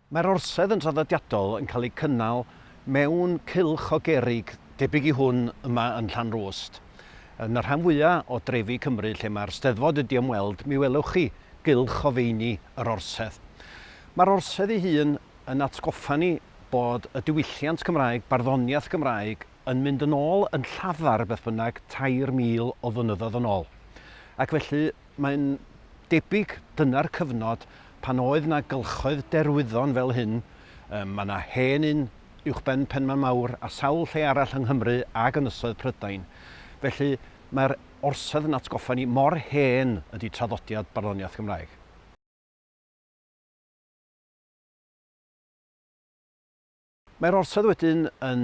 Mae'r orsedd yn draddodiadol yn cael ei cynnal mewn cylch o gerrig debyg i hwn yma yn Llanrwst. Yn y rhan fwya' o drefi Cymru lle mae'r Steddfod wedi ymweld mi welwch chi gylch o feini yr orsedd. Mae'r orsedd ei hun yn atgoffa ni bod y diwylliant Cymraeg, barddoniaeth Gymraeg, yn mynd yn ôl yn llafar beth bynnag 3,000 o flynyddoedd yn ôl. Ac felly, mae'n debyg dyna'r cyfnod pan oedd 'na gylchoedd derwyddon fel hyn, mae yna hen un uwchben Penmaen Mawr a sawl lle arall yng Nghymru ac Ynysoedd Prydain. Felly, mae'r orsedd yn atgoffa ni mor hen ydy traddodiad barddoniaeth Gymraeg. Mae'r orsedd wedyn yn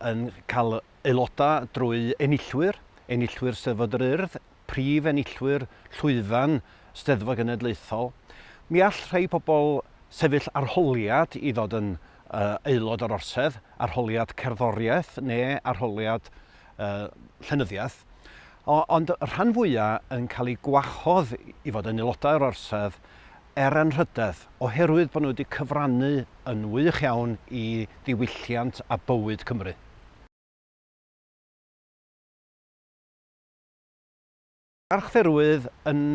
yn cael aelodau drwy enillwyr, enillwyr Steddfod yr Urdd, prif enillwyr llwyfan Steddfod Genedlaethol. Mi all rhai pobl sefyll arholiad i ddod yn uh, aelod o'r orsedd, arholiad cerddoriaeth neu arholiad uh, llenyddiaeth. O, ond y rhan fwyaf yn cael ei gwahodd i fod yn aelodau o'r orsedd er anrhydedd, oherwydd bod nhw wedi cyfrannu yn wych iawn i ddiwylliant a bywyd Cymru. Archdderwydd yn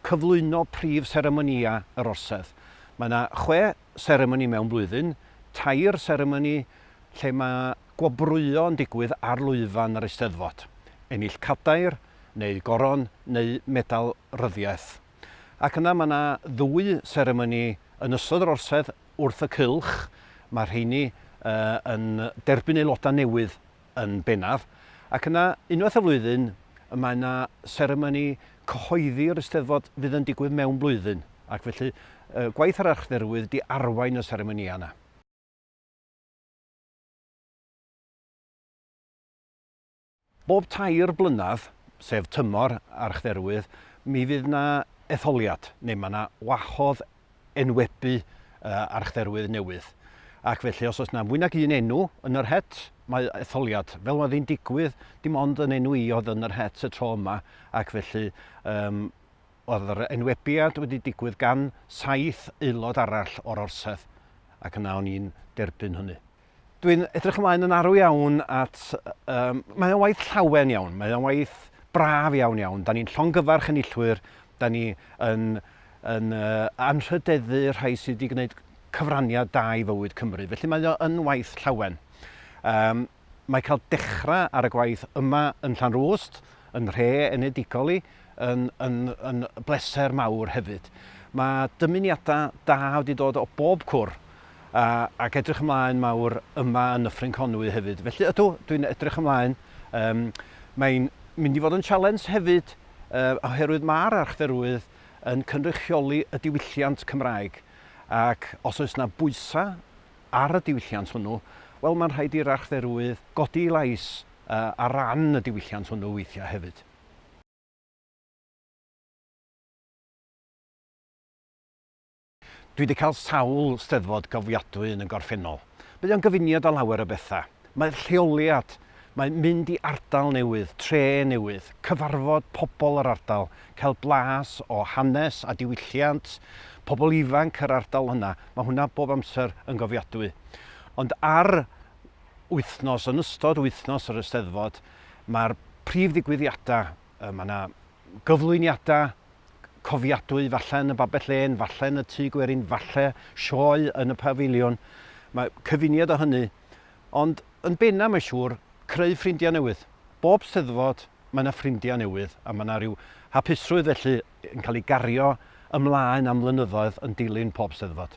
cyflwyno prif seremonïau yr Orsedd. Mae yna chwe seremoni mewn blwyddyn, tair seremoni lle mae gwobrwyo yn digwydd ar lwyfan yr Eisteddfod, ennill cadair neu goron neu medal ryddiaith. Ac yna mae yna ddwy seremoni yn ystod yr Orsedd wrth y cylch, mae'r rheiny yn derbyn aelodau newydd yn bennaf, ac yna unwaith y flwyddyn mae yna seremoni cyhoeddi yr Eisteddfod fydd yn digwydd mewn blwyddyn, ac felly gwaith yr archdderwydd di arwain y seremonïau yna. Bob tair blynedd, sef tymor Archdderwydd, mi fydd yna etholiad, neu mae yna wahodd enwebu Archdderwydd newydd. Ac felly, os oes yna fwy nag un enw yn yr het, mae etholiad. Fel oedd hi'n digwydd, dim ond yn enw i oedd yn yr het y tro yma, ac felly um, oedd yr enwebiad wedi digwydd gan saith aelod arall o'r orsedd, ac yna o'n i'n derbyn hynny. Dwi'n edrych ymlaen yn arw iawn at... Um, mae o'n waith llawen iawn, mae o'n waith braf iawn iawn. Da ni'n llongyfarch enillwyr, da ni yn, yn uh, anrhydeddu rhai sydd wedi gwneud cyfraniad da i fywyd Cymru. Felly mae o'n waith llawen. Um, mae cael dechrau ar y gwaith yma yn Llanrwst, yn rhe enedigol i, yn, yn, yn bleser mawr hefyd. Mae dymuniadau da wedi dod o bob cwr a, ac edrych ymlaen mawr yma yn Nyffryn Conwy hefyd. Felly ydw, dwi'n edrych ymlaen. Um, Mae'n mynd i fod yn sialens hefyd uh, oherwydd mae'r archferwydd yn cynrychioli y diwylliant Cymraeg ac os oes yna bwysau ar y diwylliant hwnnw, wel mae'n rhaid i'r archferwydd godi lais uh, ar ran y diwylliant hwnnw weithiau hefyd. Dwi wedi cael sawl Steddfod gofiadwy yn y gorffennol. Mae o'n gyfuniad o lawer o bethau. Mae'r lleoliad, mae mynd i ardal newydd, tre newydd, cyfarfod pobl yr ardal, cael blas o hanes a diwylliant pobl ifanc yr ardal yna, mae hwnna bob amser yn gofiadwy. Ond ar wythnos, yn ystod wythnos yr Eisteddfod, mae'r prif ddigwyddiadau, mae yna gyflwyniadau cofiadwy, falle yn y Babell Len, falle yn y Tŷ Gwerin, falle sioe yn y Pafiliwn, mae cyfuniad o hynny, ond yn benna mae'n siŵr, creu ffrindiau newydd. Bob Steddfod mae yna ffrindiau newydd a mae yna rhyw hapusrwydd felly yn cael ei gario ymlaen am flynyddoedd yn dilyn pob Steddfod.